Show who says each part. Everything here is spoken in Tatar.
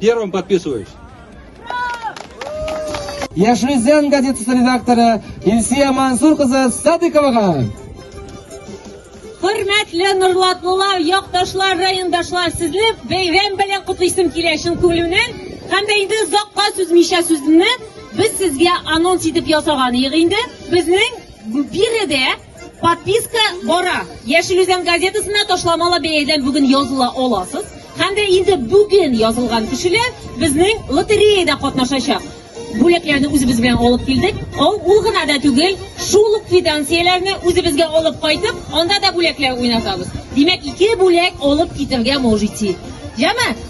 Speaker 1: Первым подписываюсь.
Speaker 2: Яшьли зен газетасы редакторы Илсия Мансур кызы Садыковага.
Speaker 3: Хөрмәтле Нурлатлылар, якташлар, райондашлар, сезне бәйрәм белән котлыйсым килә чын күңелемнән. Һәм дә инде озакка сүзмичә сүземне без сезгә анонс итеп ясаган идек инде. Безнең биредә Подписка бара. Яшел Үзән газетасына ташламалы бәядән бүген языла аласыз. Һәм дә инде бүген язылган кешеләр безнең лотереяда катнашачак. Бүләкләрне үзебез белән алып килдек. Ул, ул гына да түгел, шул ук квитанцияләрне үзебезгә алып кайтып, анда да бүләкләр уйнатабыз. Димәк, ике бүләк алып китергә можете. Яме?